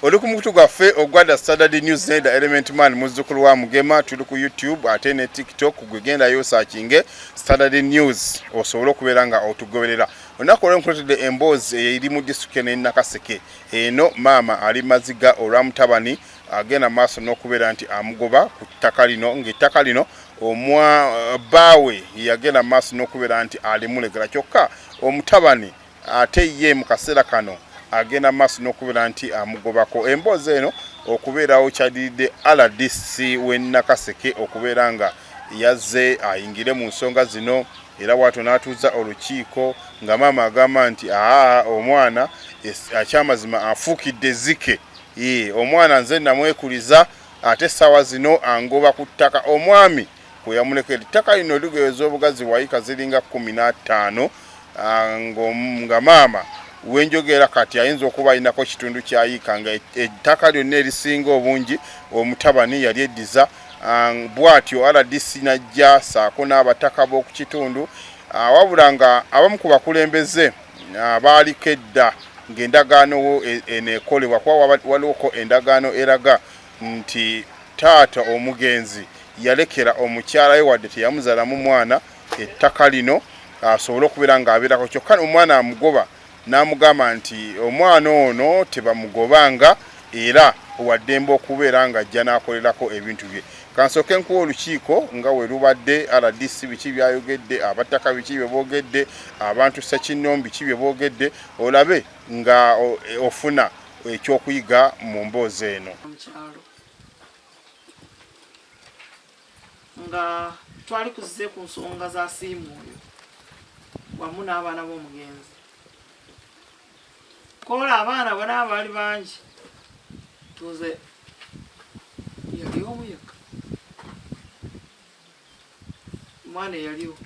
oli ku mukutu gwaffe ogwa the saturday news ne the element man muzzukulu wa mugema tuli ku youtube ate ne tiktok gwe gendayo osakinge saturday news osobole okubeera nga otugoberera olunaku olwo nkuletedde emboozi eri mu disitulikiti eno enakaseke eno maama ali maziga olwa mutabani agenda maaso n'okubeera nti amugoba ku ttaka lino ng'ettaka lino omwa baawe yagenda maaso n'okubeera nti alimulegera kyokka omutabani ate ye mu kaseera kano agenda maaso n'okubeera nti amugobako emboozi eno okubeerawo kyadiridde rdc w'e Nakaseke okubeera nga yazze ayingire mu nsonga zino era waato n'atuuza olukiiko nga maama agamba nti aa omwana akyamazima afuukidde ezzike omwana nze namwekuliza ate essaawa zino angoba ku ttaka omwami kwe yamulekera. Ettaka lino ligeweza obugazi wayika ziringa kkumi n'ataano ah, nga maama wenjogera kati ayinza okuba alinako kitundu kyayiika nga ettaka lyonna erisinga obungi omutabani yali eddiza ah, bwatyo rdc najja saako n'abataka b'okukitundu ah, wabula nga abamu ku bakulembeze baaliko edda ng'endagaano e, eneekolebwa kuba waliwoko endagaano eraga nti taata omugenzi yalekera omukyala we wadde teyamuzalamu mwana ettaka lino asobole okubeera ng'abeerako kyokka omwana amugoba n'amugamba nti omwana ono tebamugobanga era owaddembe okubeera ng'ajja n'akolerako ebintu bye kansooke nkuwa olukiiko nga we lubadde rdc biki byayogedde abattaka biki bye boogedde abantu ssekinnombi ki bye boogedde olabe nga ofuna ekyokuyiga mu mboozi eno mukyalo nga twali kuzze ku nsonga za siimu oyo wamu n'abaana b'omugenzi kola abaana bona abaali bangi tuze yali omu yekka omwana eyaliwo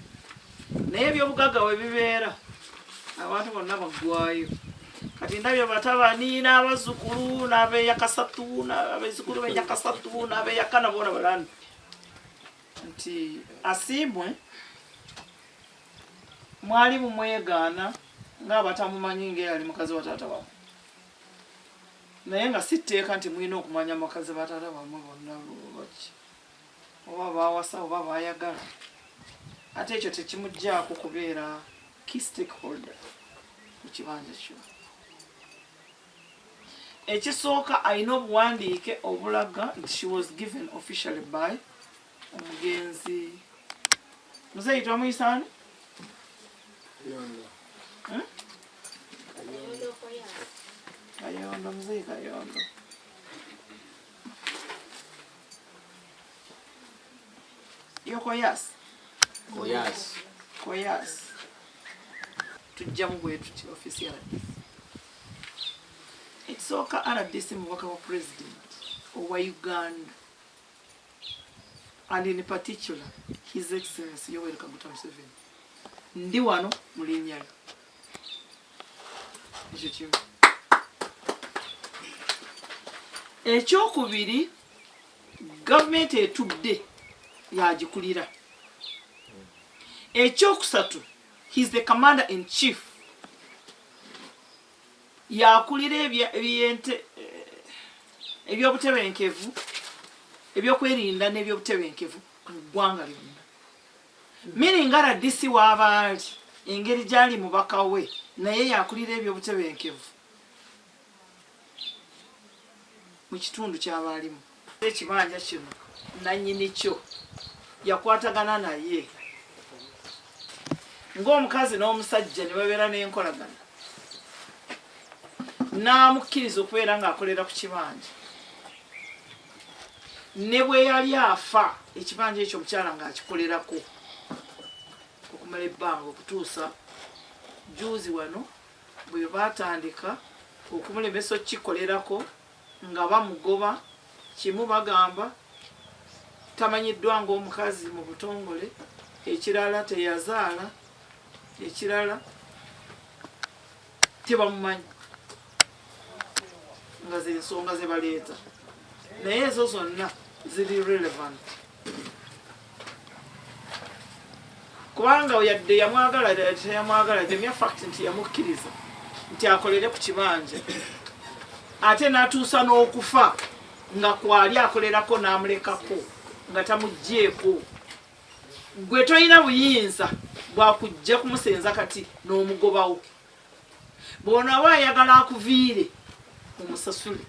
naye ebyobugagga we bibeera abantu bonna baggwayo kati ndabye batabani n'abazukulu n'abeyakasatu n'abezukulu beyakasatu n'abeyakana bona balani nti asiimwe mwali mumwegaana ng'abatamumanyi ng'eyali mukazi wa taata wamwe naye nga si tteeka nti mulina okumanya mukazi ba taata wamwe bonna lwaki oba baawasa oba baayagala ate ekyo tekimuggyako kubeera key stakeholder mu kibanja kyo ekisooka alina obuwandiike obulaga nti she was given officially by omugenzi muzeeyi twamuyisani hmm? kayondo muzeeyi kayondo Yo koyas. Koyas. Koyas. Tujja mu gwe tuti ofisi ya rdc. Ekisooka rdc mubaka wa president owa Uganda and in particular his excellency Yoweri Kaguta Museveni. Ndi wano mu linnya lyo. ekyokubiri gavumenti etudde yagikulira ekyokusatu he's the commander in chief yakulira ebyente ebyobutebenkevu ebyokwerinda n'ebyobutebenkevu mu ggwanga lyonna Mini nga rdc w'abaali engeri gy'ali mubaka we naye y'akulira ebyobutebenkevu mu kitundu ky'abaalimu. Ekibanja kino nannyini kyo yakwatagana naye ng'omukazi n'omusajja ne babeera n'enkolagana n'amukkiriza okubeera ng'akolera ku kibanja. ne bwe yali afa ekibanja ekyo omukyala ng'akikolerako okumala ebbanga okutuusa juuzi wano bwe baatandika okumulemesa okukikolerako nga bamugoba kimu bagamba tamanyiddwa ng'omukazi mu butongole ekirala teyazaala ekirala tebamumanyi nga zensonga zebaleeta naye ezo zonna ziri relevant kubanga yadde yamwagala teyamwagala jemya fact nti yamukkiriza nti akolere ku kibanja ate natuusa n'okufa nga kwali akolerako n'amulekako nga tamugjeeko gwe tolina buyinza bwakujja kumusenza kati n'omugobawo bwonaba ayagala akuviire omusasule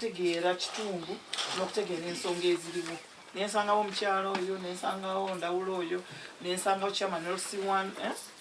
okutegeera kitundu n'okutegeera ensonga eziriwo nensangawo omukyalo oyo nensangawo ndawula oyo nensangawo chairman lc1 eh?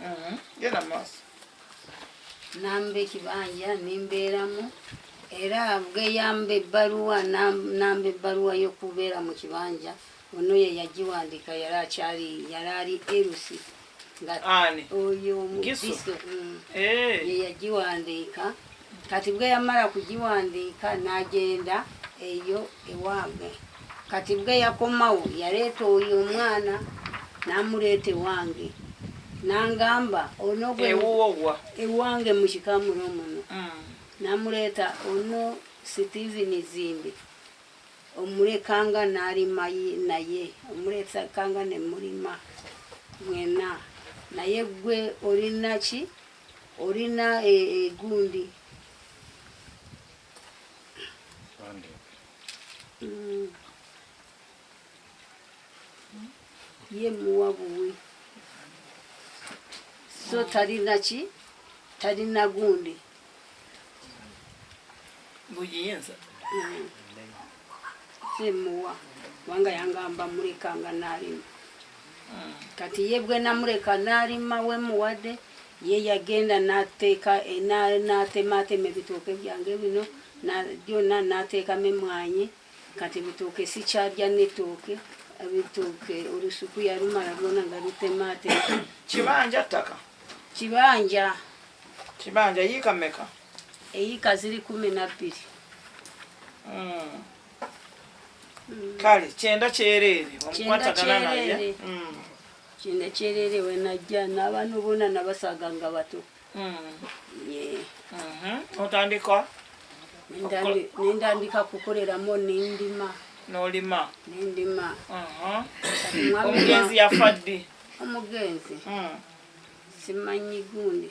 Mm-hmm. genda maaso namba ekibanja nembeeramu era geyamba ebbaluwa namba ebbaluwa y'okubeera mu kibanja ono ye yagiwandiika yali akyali yali ali erusi nga oyo omubiso mm. eh. ye yagiwandiika kati bwe yamala kugiwandiika n'agenda eyo ewange kati bwe yakomawo yaleeta oyo omwana n'amuleeta ewange nangamba ono ewange mu kikamulo muno mm. namuleeta ono steven zimbi omulekanga nalima naye omuleetakanga nemulima mwena naye gwe olinaki olina egundi e, ye muwa buwi so talina ki talina gundi buyinza semuwa kubanga yangamba mulekanga nalimu kati ye bwe namuleka n'alima we muwadde ye yagenda n'ateeka eh, n'atemaatema ebitooke byange bino byonna n'ateekamu emwanyi kati bitooke sikyalya n'ettooke ebitooke olusuku yalumala lwona nga lutemaatema kibanja ttaka kibanja kibanja yiika meka eyiika ziri kumi na bbiri hmm. mm. kale kyenda kyereere wamukwatagana naye mm. kyenda kyereere wenajja n'abaana bona nabasaga nga bato mm. mm-hmm. otandika nendandika kukoleramu nendima nolima nendima uh-huh. omugenzi yafa ddi omugenzi mm. simanyi gundi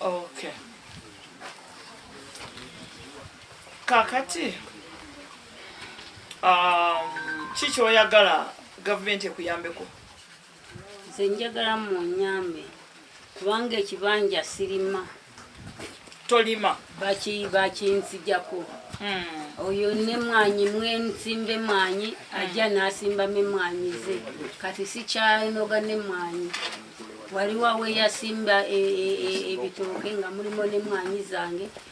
Okay. Kakati um, kiki oyagala gavumenti ekuyambeko? nze njagala munyambe kubanga ekibanja sirima tolima bakinzijako hmm. oyo ne mwanyi mwensimbe mwanyi ajja nasimba me mwanyi ze kati sikyanoga ne mwanyi waliwo aweyasimba e, e, e, ebitooke nga mulimu ne mwanyi zange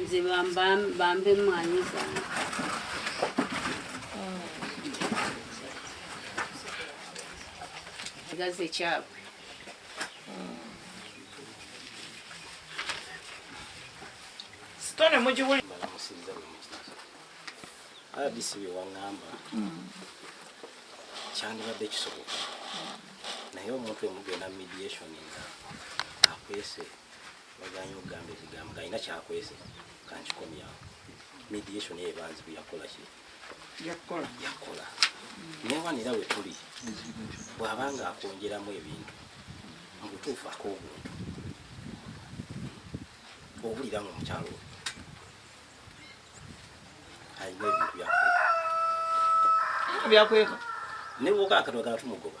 nze bambe emmwanyi zange gaze kyabwe sitone mugiwuli rdc byewaŋŋamba kyandibadde kisoboka naye omuntu emugenda mediation nga akwese baganye okugamba ekigambo nga alina kyakwese kankikomyawo mediation eyo ebanzi kuyakola ki yakola yakola newanira we tuli bw'aba nga akwongeramu ebintu mu butuufu ak'obuntu owulira nga omukyalo oyo alina ebintu byakweka byakweka ne bwoka akatwagala tumugoba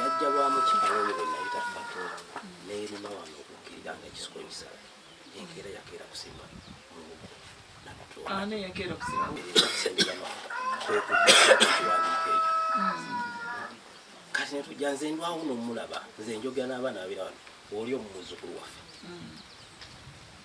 yajja lwa mukyalo oyo bwe nayita fatu n'erima wano okukkirira nga ekisiko ekisala enkeera yakeera kusimba mubuko nabatwala yakeera kusimba kati netujja nze ndwawo nomulaba nze njogera n'abaana babira wano oli omumuzukulu waffe mm.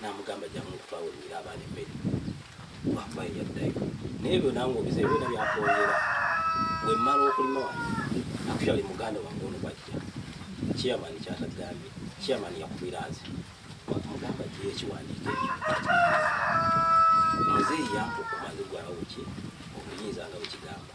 namugamba jangu nkutwawe olumira abaana emmere lwakuba yeyaddayo naye ebyo nange obize byona byakwongera wemmala okulima wano akutwale muganda wange ono bwajja chairman kyatagambye chairman yakubira nze mugamba gye ekiwandiiko ekyo muzeeyi yampa okumanyi gwawuki obuyinza nga bwekigamba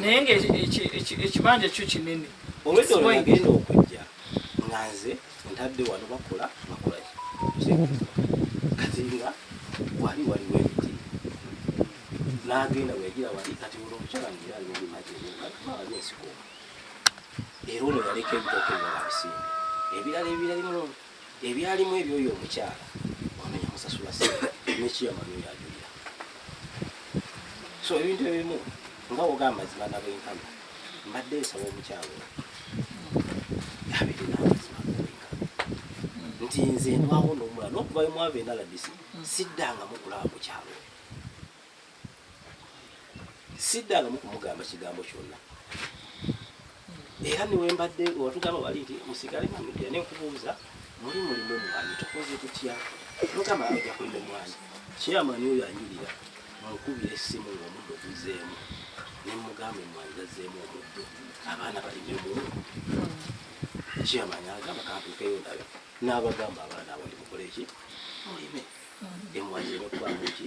naye nga ekibanja kyo kinene olwedda olwagenda okujja nga nze ntadde wano bakola bakola kati nga wali waliwo emiti nagenda weyagira wali kati olwo omukyala ngira ali mubimajeali ensiko era ono yaleka ebitooke ebirala bisimbe ebirala ebiralimu ebyalimu ebyoyo omukyala ono yamusasula sente nekiyama byoyo ajulira so ebintu ebimu nga woga amazima nabenkana mbadde nsaba omukyala ono abirina amazima nabenkana nti nze ndwawo nomula nokuvayo mwava enalabisi siddanga mukulaba mukyalo siddangamu kumugamba kigambo kyonna era newembadde watugamba wali nti musigale mumidde nenkubuuza muli mulimu omwami tukoze tutya mugamba aja kulima omwami kyeyamani oyo anjulira mukubira essimu ngaomuddo oguzeemu nemugamba emwani gazeemu omuddo abaana balimemu kyeyamani agamba kantukeyo ndabe n'abagamba abaana abali mukoleki mulime emwani zireme kubamu ki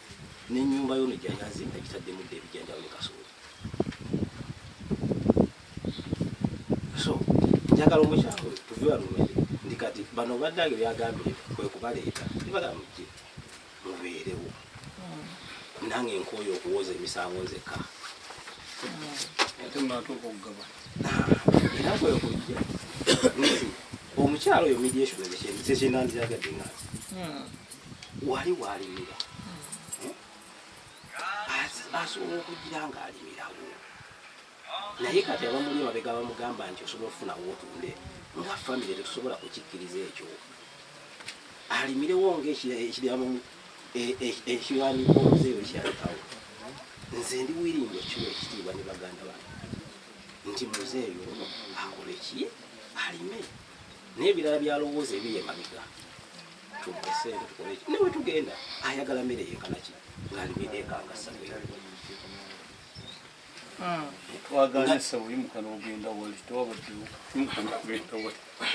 n'ennyumba yono gyeyali azimba gitaddemu dda ebijanjalo ne kasooli so njagala omukyalo tuve wano mwere ndi kati bano bannange byagambye kwe kubaleeta tibagamujje mubeerewo hmm. nange nkooye okuwooza emisango nzekka era kwekujja omukyalo oyo mediation ezekyendandyagadde nga hmm. wali walimira hmm? asobola okugira ng'alimirawo naye kati abamuli emabega bamugamba nti osobola okufunawo otunde nga famire tetusobola kukikkiriza ekyo alimirewo ngaekiramu e, e, ekiwandiiko omuzeeyo kyalekawo nze ndi wiringi okukima ekitiibwa ne baganda bange nti muzeeyo ono akoleki alime n'ebirala byalowooza ebiri emabega nawe tugenda ayagala mere yekanaki ngalimidekangasa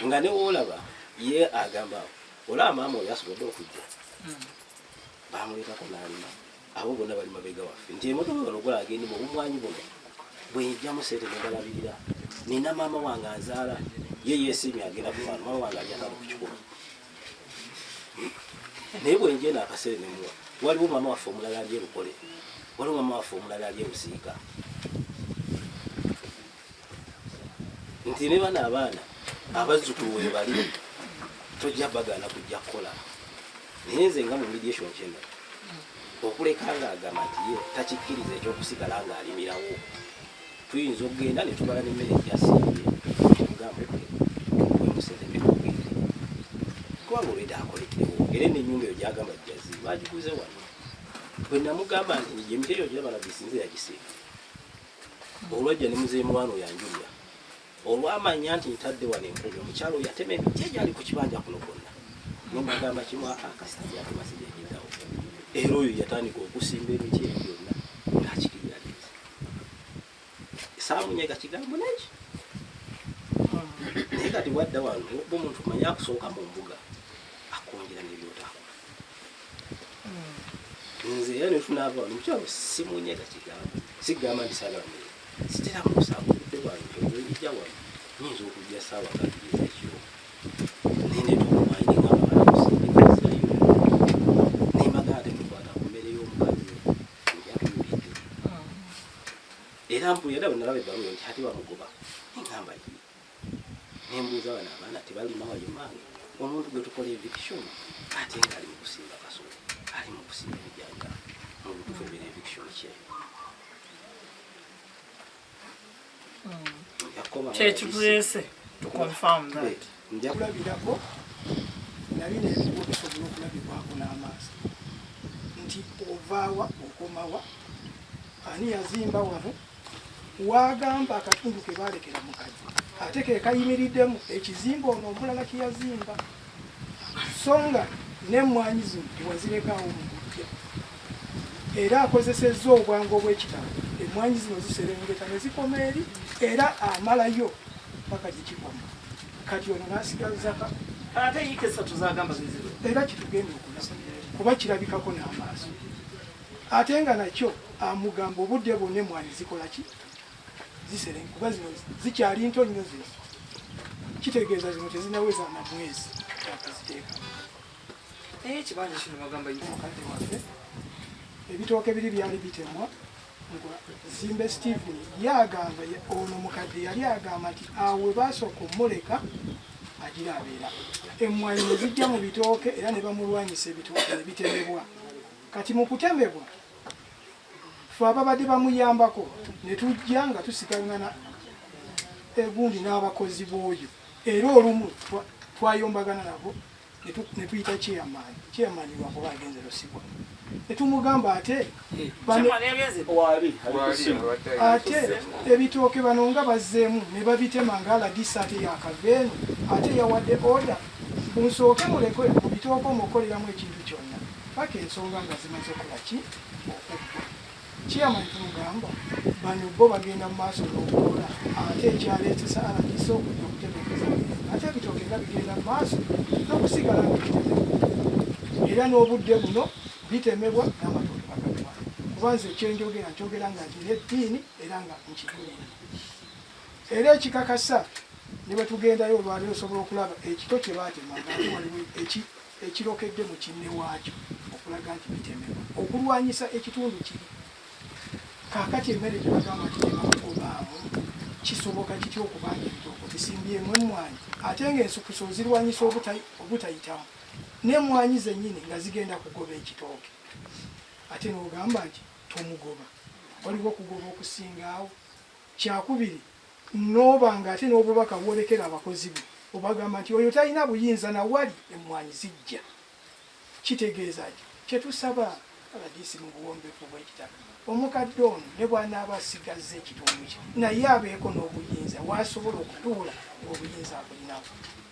nga newolaba ye agamba olaba maama oyo asobodde okujja bamulekako nalima abo bona bali mabega waffe nti emotoka bano gula agende mu bumwanyi buno bwenjamu sente nebalabirira nina maama wange azaala ye yesimye agenda kumaana maama wange ajatali kukikuba hmm? naye bwenjena akasere nemuwa waliwo maama waffe omulala ali erukole waliwo maama waffe omulala ali erusiika nti ne bano abaana abazzukulu webali tojja bagaana kujja kukola naye nze nga mu mediation kyeno okuleka nga agamba nti ye takikkiriza ekyokusigala nga alimirawo tuyinza okugenda netubala nemmere gyasimbye tugambe wemuseveni ogende kubanga olweda akolekewo era nenyumba eyo gyagamba jazi bagikuze wano bwenamugamba nti emiteyo gyabalabisinze yagisimba olwajja ne muzeeyi mulwana oyo anjulira olwamanya nti ntadde wano enkumi omukyalo yatema emiti egyali ku kibanja kuno kwonna nembagamba kimu akasita yatemasijajiddawo era oyo yatandika okusimba emiti eyo byonna ngakikirira nti saamunyega kigambo naki naye kati wadda wano omuntu manya akusooka mu mbuga akwongera nebyotakola nze era nefunava wano mukyalo simunyega kigambo sigamba nti sagala muye sitera musawo kudde wano eja wano nyinza okujja saawa kakiriza kyo nendeeta omumayi nengabaalakusindikizayo nemagana temukwata ku mmere y'omukazi njatuyulidde era mpulira daba nalaba ebbaluwa nti ate bamugoba nengamba ye nembuuza bano abaana tebalima wayo maange omuntu gwe tukola eviction ate nga ali mukusimba kasolo ali mukusimba ebijanja mubutufu ebera eviction kye hmm. kyekituleese nja kulabirako nali nebiwo bisobola okulabibwako n'amaaso nti ovaawa okomawa ani yazimba wano waagamba akatundu ke baalekera mu kaji ate ke kayimiriddemu ekizimba ono omulala kye yazimba so nga n'emmwanyi zino tewazirekawo mu kujja era akozesezza obwangu obw'ekitalo emmwanyi zino ziserengeta ne zikoma eri era amalayo paka gye kikomo kati ono n'asigazzaka era kitugenda okulaba kuba kirabikako n'amaaso Ate nga nakyo amugamba obudde bwonna emmwanyi zikola ki? Ziseremu kuba zino zikyali nto nnyo zino. Kitegeeza zino tezinaweza na mwezi akaziteekamu. Naye ekibanja kino bagamba ye mukadde waffe. Ebitooke biri byali bitemwa Zimbe Stephen yagamba ono mukadde yali agamba nti awe baasooka omuleka agira abeera emmwanyi ne zijja mu bitooke era ne bamulwanyisa ebitooke ne bitemebwa. Kati mu kutemebwa fe ababadde bamuyambako ne tujja nga tusigangana egundi n'abakozi b'oyo era olumu twayombagana nabo ne tuyita chairman chairman wakuba agenze lusibwa ne tumugamba ate ate ebitooke bano nga bazzeemu ne babitema ng'alagisa ate yakaveenu ate yawadde order munsooke mulekwe mu bitooke omukoleramu ekintu kyonna paka ensonga nga zimaze okolaki okuggwa chairman tumugamba bano bo bagenda mu maaso n'okukola ate ekyaleetesa alagisa okujja okutegeeza ate ebitooke nga bigenda mu maaso n'okusigala nga bitemebwa era n'obudde buno bitemebwa n'amatooke bagatwala kuba nze ekyenjogera nkyogera nga ntina eddiini era nga nkigulira era ekikakasa ne bwe tugendayo olwaliro osobola okulaba ekito kye baatema nga waliwo eki ekirokedde mu kinne waakyo okulaga nti bitemebwa okulwanyisa ekitundu kiri kaakati emmere gye bagamba nti tebakugobaamu kisoboka kitya okuba nga ebitooko bisimbyemu emmwanyi ate ng'ensukusa ozirwanyisa obutayitamu n'emmwanyi zennyini nga zigenda kugoba ekitooke ate n'ogamba nti tomugoba waliwo okugoba okusingaawo kyakubiri N'oba nga ate n'obubaka bwolekera abakozi bo obagamba nti oyo talina buyinza na wali emmwanyi zijja kitegeeza ki? Kye tusaba rdc mu buwombeefu bw'ekitalo omukadde ono ne bw'anaaba asigazza ekitundu kye naye abeeko n'obuyinza w'asobola okutuula ng'obuyinza abulinako.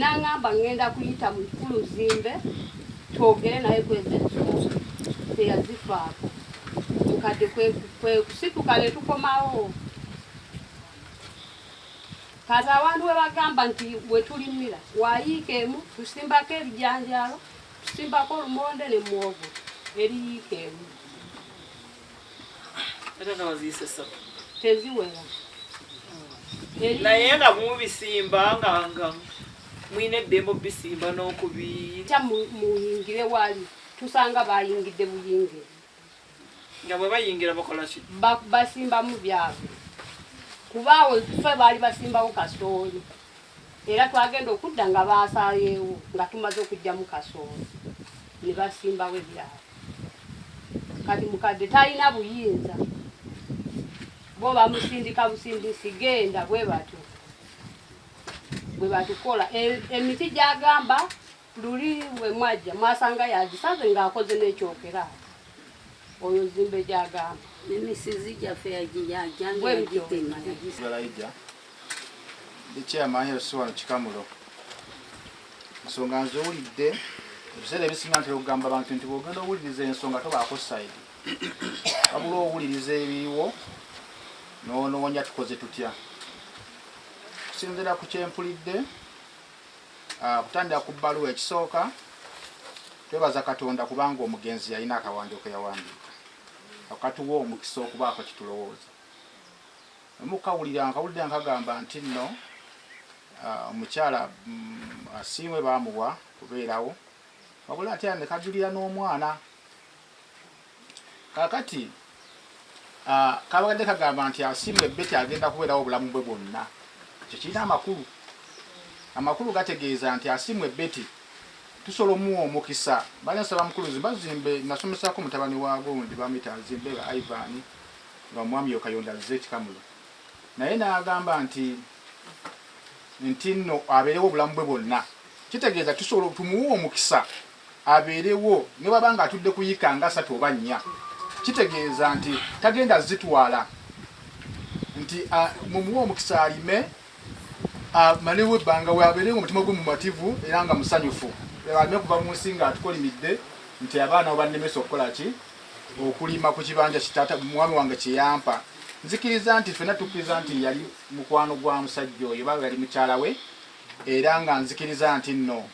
Nangamba ngenda kuyita mu kulu zimbe twogere naye kweza ensonga teyazifaako mukadde kwekusituka ne tukomawo kati abantu we bagamba nti we tulimira wayiika emu tusimbako ebijanjaalo tusimbako olumonde ne muwogo eriyiika emu teziwera naye nga mubisimba nga nga mwine eddembe obisimba n'okubita muyingire wali tusanga bayingidde buyingire nga bwe bayingira bakola ki basimbamu byabwe kubaawo fe baali basimbawo kasooli era twagenda okudda nga baasaayeewo nga tumaze okugyamu kasooli ne basimbawo ebyabwe kati mukadde talina buyinza bo bamusindika busindisi genda bwe batyo bwe batukola e, emiti gyagamba luli bwe mwajja mwasanga yagisaze ng'akoze n'ekyokera oyo zimbe gyagamba emisizi gyaffe yagitema ndi chairman LC wano Kikamulo. Ensonga nziwulidde ebiseera ebisinga ntera okugamba abantu nti bw'ogenda owuliriza ensonga tobaako sayidi wabula owuliriza ebiriwo n'onoonya tukoze tutya okusinziira ku kyempulidde ah, kutandika ku bbaluwa ekisooka twebaza katonda kubanga omugenzi yalina akawandiiko yawandiika akatuwa omukisa okubaako kitulowooza mukawulira nkawulira nkagamba nti nno ah, omukyala mm, asiimwe baamuwa kubeerawo wabula ate ne kajulira n'omwana kakati ah, kabagadde kagamba nti asiimwe beti agenda kubeerawo obulamu bwe bwonna ekyo kirina amakulu amakulu gategeeza nti asiimwe beti tusobola omuwa omukisa bali nsaba mukuluzi bazimbe nasomesako mutabani wa gundi bamuyita azimbe ba ivani nga omwami yo kayondo azze ekikamulo naye n'agamba nti nti nno abeerewo obulamu bwe bwonna kitegeeza tusobola tumuwa omukisa abeerewo ne baba nga atudde kuyika nga asatu oba nnya kitegeeza nti tagenda zitwala nti mumuwa omukisa alime amalewo ebbanga wabeere nga omutima gwe mumativu era nga musanyufu aleme kuva mu nsi nga atukolimidde nti abaana obannemesa okukola ki okulima ku kibanja kitata mwami wange kyeyampa nzikiriza nti fena tukkiriza nti yali mukwano gwa musajja oyo baba yali mukyala we era nga nzikiriza nti nno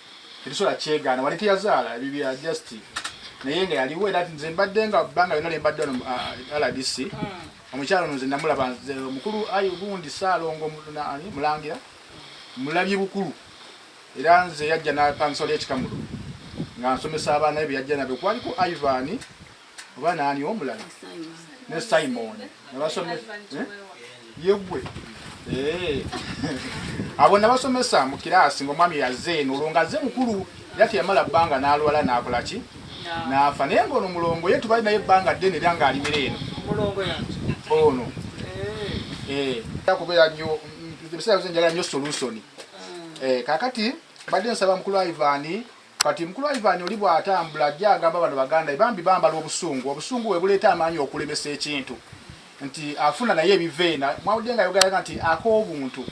tetusobola kyegaana wali teyazaala ebibya just naye nga yaliwo era nze mbadde nga bbanga yona lyembadde wano rdc ah, omukyalo nze namulaba nze omukulu ayi gundi saalongo ani mulangira mulabye bukulu era nze yajja napangisao lyekikamulo nga nsomesa abaana be byeyajja nabyo kwaliko ivan oba naani omulala ne simon nabasomesa eh? yegwe eh. abo nabasomesa mu kiraasi ngaomwami yaze eno olwo ngaze mukulu era teyamala bbanga n'alwala n'akola ki n'afa naye ng'ono mulongo ye tubali naye ebbanga ddene era ng'alimira eno ono eh. eh. kubeera nyo ebiseera byoze njala nyo solusoni ah. eh, kakati badde nsaba mukulu aivani kati mukulu aivani oli bw'atambula ajja agamba bano baganda bambi bambala obusungu obusungu we buleeta amaanyi okulemesa ekintu nti afuna naye ebiva ena mwawudde nga yogeraga nti ak'obuntu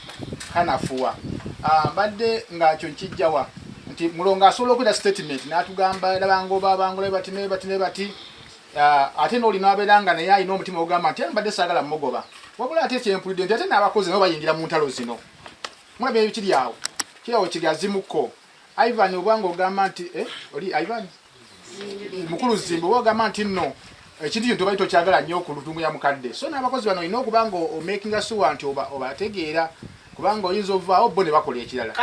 kanafuwa ah, mbadde ngakyo nkijjawa nti mulongo asobola okwera statement natugamba era bangoba bangula bati ne bati ne bati ah, ate n'oli nabeera nga naye alina omutima ogamba nti mbadde saagala mugoba wabula ate kyempulidde nti ate n'abakozi nabo bayingira mu ntalo zino mulaba ebikiri awo kirawo kigazimuko ivan obwanga ogamba nti eh, oli ivan mukulu zimbo wagamba nti nno ekintu kino tobali tokyagala nnyo ku lutungu ya mukadde so n'abakozi bano olina okuba nga omakinga suwa nti obategeera kubanga oyinza ovaawo bo ne bakola ekirala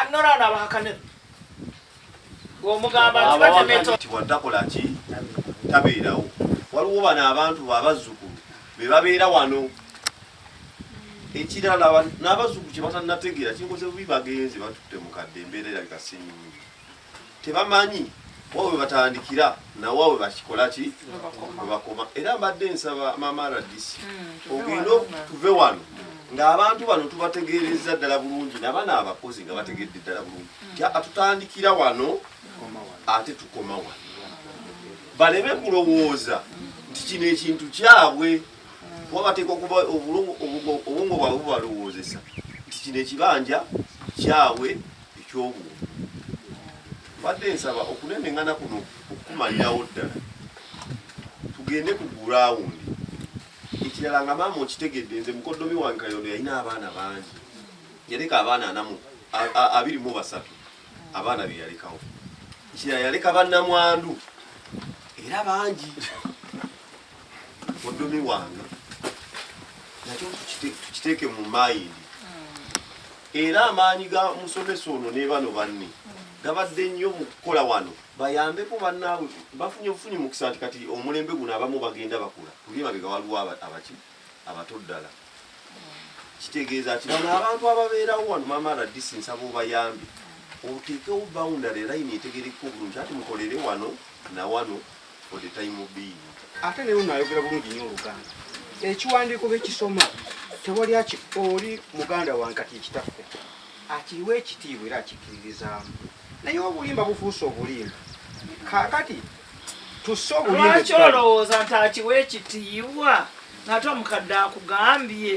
omugambaatakolaki tabeerawo waliwo bano abantu babazzukulu be babeera wano ekirala n'abazzukulu kye batanategeera kinkoze bubi bagenzi batutte mukadde embeera erabika sinyingi tebamanyi wa we batandikira nawa we bakikola ki we bakoma era mbadde nsaba maama radisi hmm, ogenda tuve wano ng'abantu bano tubategeerezza ddala bulungi nabana abakozi nga bategedde ddala bulungi hmm. tya atutandikira wano ate tukoma wano baleme kulowooza nti kino ekintu kyabwe hmm. kuba bateeka okuba obwongo bwabwe bubalowoozesa nti kino ekibanja kyabwe eky'obuntu. Mbadde nsaba okunenengana kuno okukumalirawo ddala tugende ku gurawundi. Ekirala nga maama okitegedde nze mukoddomi wange Kayondo yalina abaana bangi, yaleka abaana anamu abiri mu basatu abaana be yalekawo. Ekirala yaleka bannamwandu era bangi. muduumi wange nakyo tukiteeke mu mayindi era amaanyi ga musomesa ono ne bano banne gabadde nnyo mu kukola wano bayambeko bannaabwe bafunye obufunyi mukisa nti kati omulembe guno abamu bagenda bakula kulie mabega waliwo abaki abato ddala kitegeeza ki bano abantu ababeerawo wano maama radisi nsaba obayambi oteekewo bawundale layini etegerekeka obulungi ati mukolere wano na wano for the time being ate naye unayogera bulungi nyo oluganda ekiwandiiko bekisoma tewali aki oli muganda wankati ekitaffe akiriwa ekitiibwa era akikiririzaamu naye obulimba bufuuse obulimba kakati tusse obulimba lwaki olowooza nti akiwa ekitiibwa ngate omukadde akugambye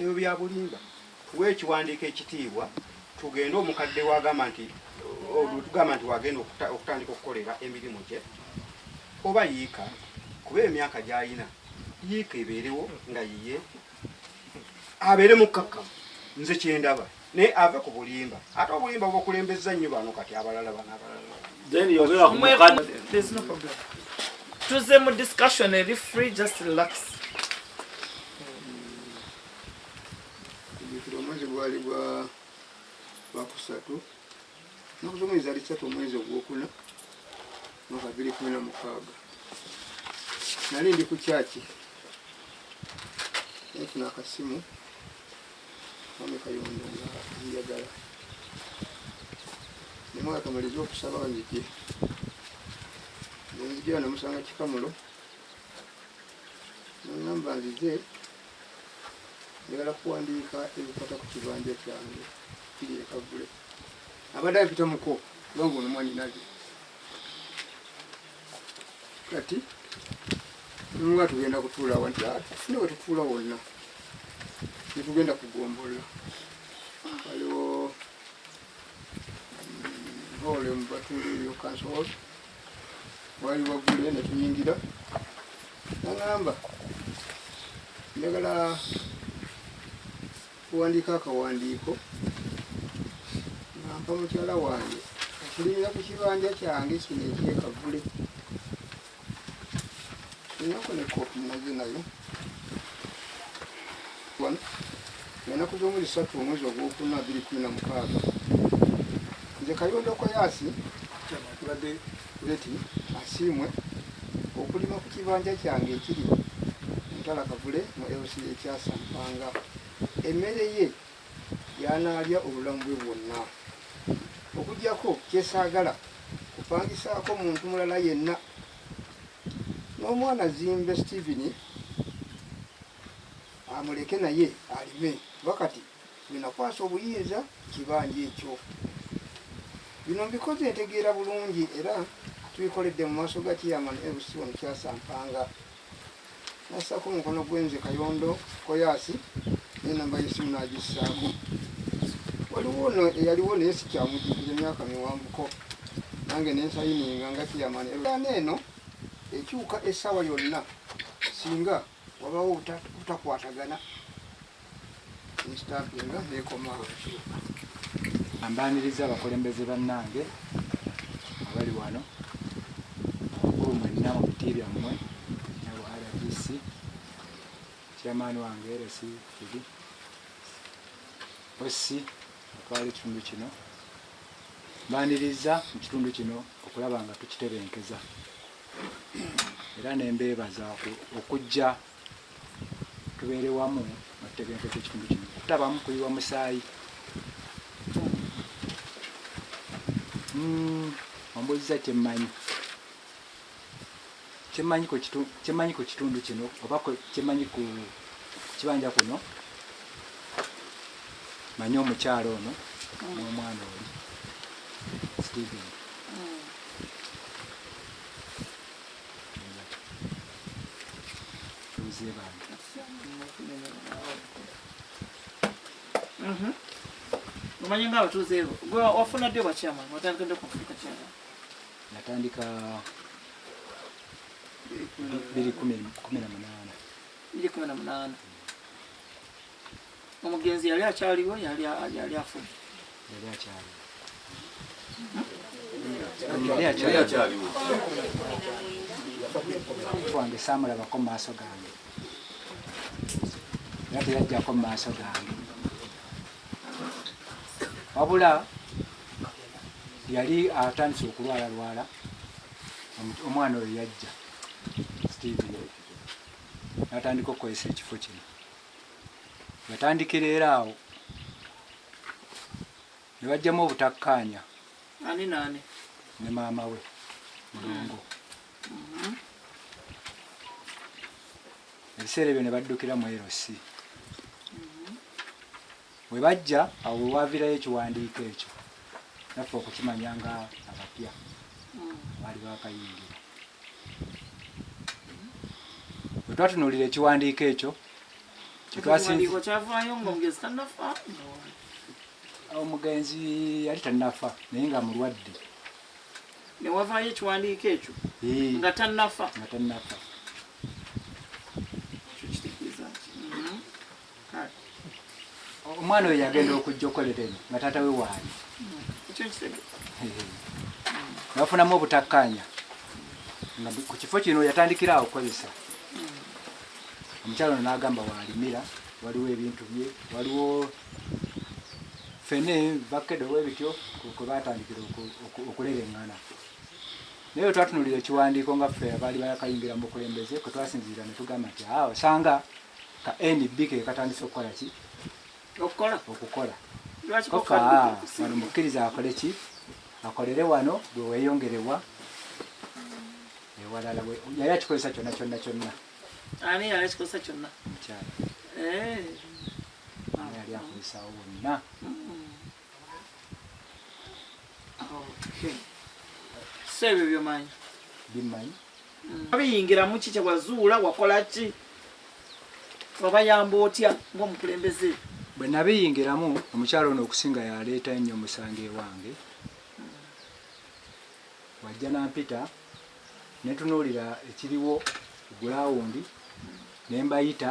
Ebyo bya bulimba. Tuwe ekiwandiiko ekitiibwa tugende omukadde wagamba nti olutugamba nti wagenda okutandika okukolera emirimu gye oba yiika kuba emyaka gyalina yiika ebeerewo nga yiye abeere mukkakkamu nze kyendaba naye ave ku bulimba ate obulimba bubakulembezza nnyo bano kati abalala bano abalala tuze mu discussion eri free just relax omwezi gwali gwa lwakusatu naku zomwezi ali satu omwezi ogwokuna mwaka biri kumi na mukaaga nali ndi ku kyaki nafuna akasimu Mwami Kayondo nga njagala ne mwaka malize okusaba banzije nenzijira namusanga kikamulo nangamba nzize njagala kuwandiika ebikwata ku kibanja kyange kiri ekagule abadde ampita muko nga ngono mwanyinaze kati nga tugenda kutuula wanti ah, tufune wetutuula wonna netugenda kugombolola waliwo mm, hole mubatunda eyo kansol wali waggule netuyingira nagamba njagala kuwandiika akawandiiko nga mpa mukyala wange okulinda ku kibanja kyange kino ekyekavule enako ne koopi nazo nayo wano enaku z'omwezi satu omwezi ogwokuna abiri kumi na mukaaga nze kayondo koyaasi Tubadde Betty Asiimwe okulima ku kibanja kyange ekiri Mutala Kavule mu LC ekyasa Mpanga. Emmere ye y'anaalya obulamu bwe bwonna. Okuggyako kyesaagala kupangisaako muntu mulala yenna n'omwana Zimbe Steven amuleke naye alime kuba kati Binakwasa obuyinza ku kibanja ekyo. Bino mbikoze ntegeera bulungi era tubikoledde mu maaso ga chairman LC wano kyasampanga nassako omukono gwenze kayondo koyaasi nenamba yesimu nagissaako waliwo no eyaliwo naye sikyamujukira emyaka miwanvuko nange nensayininga nga chairman ana eno ekyuka essaawa yonna singa wabawo butakwatagana nstampinga nekoma ambaniriza abakulembeze bannange abali wano abakulu mwenna mu biti byammwe nabo rdc chairman wange rsi fidi osi atwala ekitundu kino mbaniriza mu kitundu kino okulaba nga tukitebenkeza era nembeebaza okujja tubeere wamu nga tutegenkeko ekitundu kino kutabamu kuyiwa musaayi hmm, ombuziza kyemmanyi kyemmanyi ku kitundu kino oba kyemmanyi ku kibanja kuno manyi omukyalo ono mm. n'omwana oli steven Mhm. omanyi nga abatuuze ebo gwe wafuna ddi obwakyama watandika ddi okufuuka kyama natandika biri kumi na munaana biri kumi na munaana omugenzi yali akyaliwo yali afudde wange saamulabako mu maaso gange era teyajjako mu maaso gange wabula yali atandise okulwala lwala omwana oyo yajja steve natandika okukozesa ekifo kino yatandikira era awo ne bajjamu obutakkaanya ani naani ne maama we mulongo mm-hmm. ebiseera ebyo ne baddukira mu erosi Bwe bajja awo we waaviirayo ekiwandiiko ekyo naffe okukimanya nga abapya abaali baakayingira. Bwe twatunuulira ekiwandiiko ekyo kye twasinzira kyavaayo ng'omugenzi tannafa omugenzi yali tannafa naye nga mulwadde ne wavaayo ekiwandiiko ekyo nga tannafa nga tannafa omwana oyo yagenda okujja okolera eno nga taata we waali nabafunamu obutakkaanya nga ku kifo kino yatandikira awo okukozesa omukyalo no n'agamba waalimira waliwo ebintu bye waliwo fene bakede owebityo kwe batandikira okulera eŋŋana naye we twatunulira ekiwandiiko nga ffe abaali bayakayingira mu bukulembeze kwe twasinziira ne tugamba nti awo osanga ka NB ke katandise okukola ki okukola okukola kofa wano mukkiriza akole ki akolere wano bwe weeyongerewa ewalala yali akikozesa kyonna kyonna kyonna ani yali akikozesa kyonna mukyala eh. yali akozesawo wonna so ebyo byomanyi bimanyi mm. abiyingiramu ki kyewazuula wakola ki wabayamba otya ngaomukulembeze bwe nabiyingiramu omukyalo ono okusinga yaleeta nnyo omusango ewange wajja nampita netunuulira ekiriwo gulawundi nembayita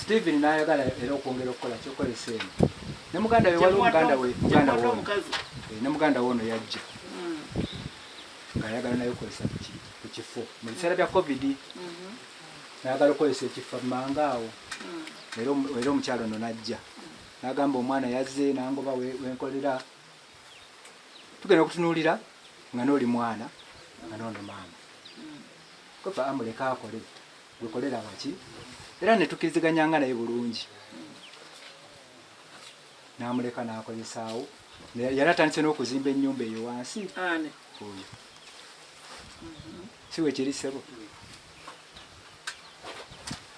Steven n'ayagala era okwongera okukola kyokola eseeno ne muganda we waliwo muganda we muganda wo eh, ne muganda wo ono yajja hmm. ng'ayagala naye okozesa ku kifo mu biseera bya covid mhm. nayagala okozesa ekifo mumanga awo hmm. era omukyalo ono najja nagamba omwana yazze nangoba wenkolera tugenda okutunuulira nga nooli mwana nga noono maama hmm. kofa amuleka akole gwekolera baki era netukiriziganyanga naye bulungi namuleka nakozesaawo yali atandise n'okuzimba ennyumba eyo wansi oyo si wekiri ssebo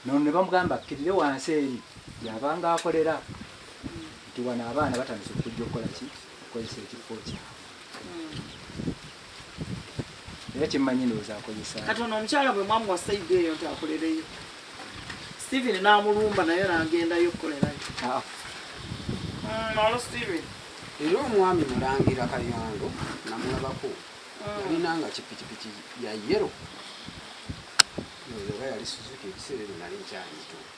nono ne bamugamba akkirire wansi eri yabanga akolera nti wano abaana batandise okujja okukola ki okukozesa ekifo kyabwe era kyemmanyi ndowooza akozesa kati ono omukyala bwe mwamuwa saidi eyo nti akolereyo steven n'amulumba naye n'agendayo okukolerayo ah. mm, alo steven era omwami mulangira kayondo namulabako mm. yalina nga kipikipiki ya yero oba yali suzuki ebiseera ebyo nali nkyayito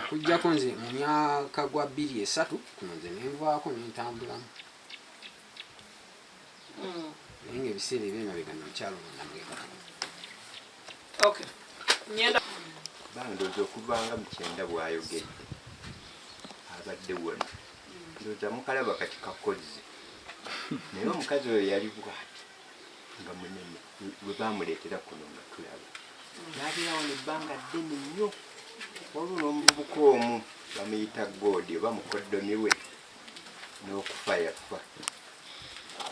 okujjako nze mu myaka gwa bbiri esatu kuno nze nenvaako nentambulamu hmm. naye nga ebiseera ebyemabega nomukyalo namwekakana bandoza okuvanga mukyenda bwayogedde abadde wona ndoza mukalaba kati kakozi naye omukazi oyo yali bwati nga munene we baamuleetera kuno nga tulaba n'abeera wano ebbanga ddene nnyo waliwo n'omuvubuka omu bamuyita goodi oba mukoddomi we n'okufa yafa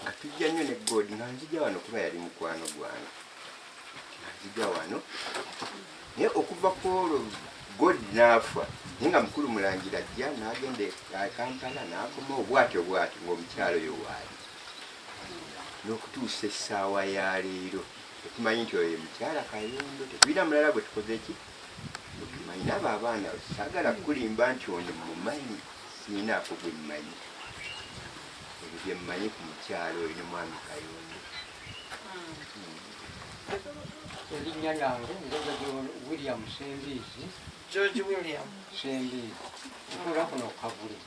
nga tujja nnyo ne goodi nga nzija wano kuba yali mukwano gwange nga nzija wano naye okuva ku olwo goodi n'afa naye nga mukulu mulangira ajja n'agenda e kampala n'akoma obwatyo obwatyo ng'omukyalo oyo waali n'okutuusa essaawa ya leero tetumanyi nti oyo mukyala kayondo tetulina mulala gwe tukoze ki tumanyi naabo abaana sagala kukulimba nti ono mumanyi sinaako gwe mmanyi ebyo bye mmanyi ku mukyala oyo ne mwami kayondo hmm. erinnya lyange ndoza william sembiizi george william sembiizi ntuula kuno kavule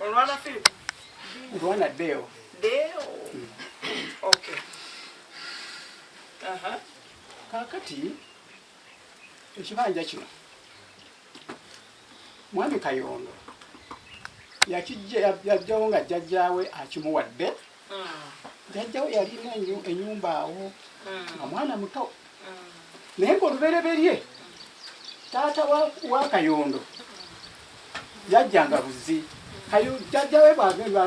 Olwana Philip. Olwana Deo. Deo. Mm. Okay. Aha. Kakati ekibanja kino mwami Kayondo yakijja yajjawo nga jjajjaawe akimuwadde jajja we yalina enyumba awo nga mwana muto naye ngaolubereberye taata wa kayondo yajjanga buzi kayo jajja we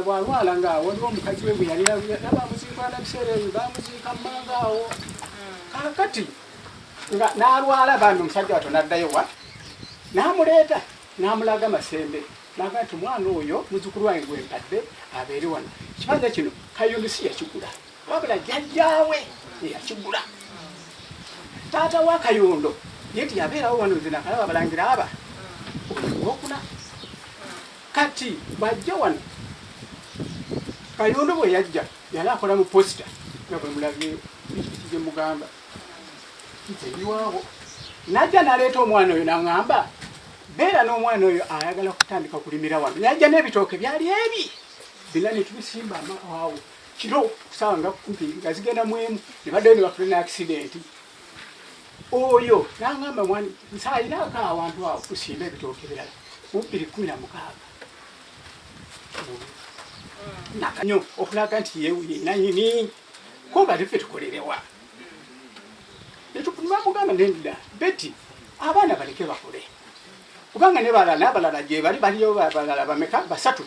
bwalwala nga waliwo omukazi we bweyalina nabamuziikwana biseera ebyo bamuziika mumanga awo kakati nalwala bambi omusajja wato naddayo wa namuleeta n'amulaga masembe n'agamba nti omwana oyo muzukulu wange gwe mpadde abeere wano ekibanja kino kayumbi si yakigula wabula jjajjaawe eyakigula taata wa kayondo ye nti yabeerawo wano nze nakalaba balangira aba ogwokuna kati bajja wano kayondo bwe yajja yali akola mu posita nga bwe mulabye ekijemugamba nzebiwawo najja naleeta omwana oyo naŋamba beera n'omwana oyo ayagala kutandika okulimira wano najja n'ebitooke byali ebi bina netubisimba awo kiro kusaawa nga kumpi nga zigenda mwemu nebaddayo nebafuna ne akisidenti oyo naŋamba mwani nsayiraako awantu awo tusimba ebitooke birala mubbiri kumi na mukaaga nakanyo okulaga nti yewuye nanyini ko bali ffe tukolerewa netubamugamba nenda beti abaana baleke bakule kubanga ne balala nabalala gye bali baliyo balala bameka basatu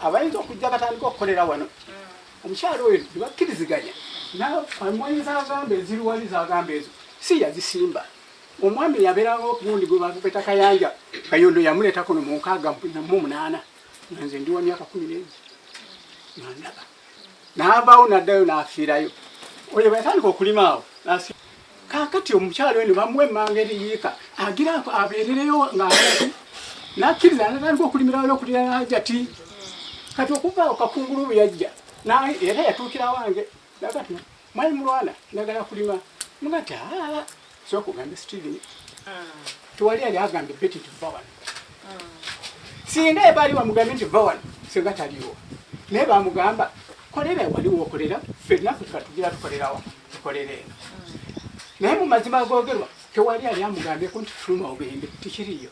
abayinza okujja batandika okukolera wano omukyalo oyo tebakkiriziganya namwanyi zagamba eziriwali zagamba ezo si yazisimba omwami yabeerawo okundi gwe bapeta kayanja kayondo yamuleetako no munkaaga mu munaana nze ndi wa myaka kumi n'egi nandaba n'avaawo n'addayo n'afiirayo oyo bwe yatandika okulima awo kaakati omukyalo eno bamuwa emmanga eriyiika agira abeerereyo ng'abantu n'akkiriza n'atandika okulimira wala okulira n'ajati kati okuvaawo kakungulu bwe yajja era yatuukira wange nagati Mwali mulwana ndagala kulima mugati ah, so kugamba Steven tewali yali agambe beti nti vva wano singa ebaali wamugambe nti vva wano singa taliwo naye bamugamba kolera wali wokolera fenna feka tugira tukolerawa tukolera eno naye mu mazima agogerwa tewali yali amugambeko nti fuluma ogende tikiriyo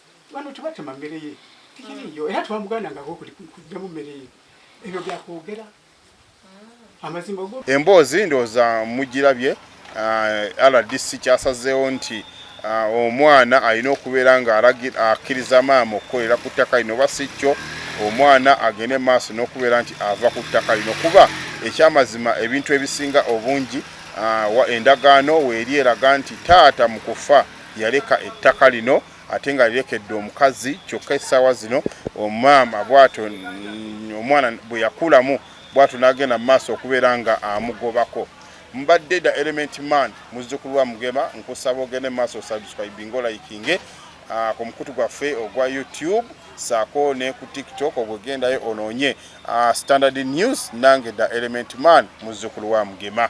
bano tebatema mmere ye tikiriiyo era twamugandangako kujjamu mmere ye ebyo byakwogera ah. amazima go emboozi ndowooza mugirabye ah, rdc kyasazeewo nti ah, omwana alina okubeera nga akkiriza maama okukolera ku ttaka lino oba si kyo omwana agende maaso n'okubeera nti ava ku ttaka lino kuba ekyamazima ebintu ebisinga obungi endagaano weeri eraga nti taata mu kufa yaleka ettaka lino ate nga lirekedde omukazi kyokka essaawa zino omaama bwato omwana bwe yakulamu bwato n'agenda mu maaso okubeera nga amugobako mbadde da element man muzzukulu wa mugema nkusaba ogende mu maaso osubscribing olayikinge ah, ku mukutu gwaffe ogwa youtube saako ne ku tiktok ogwegendayo onoonye ah, standard news nange da element man muzzukulu wa mugema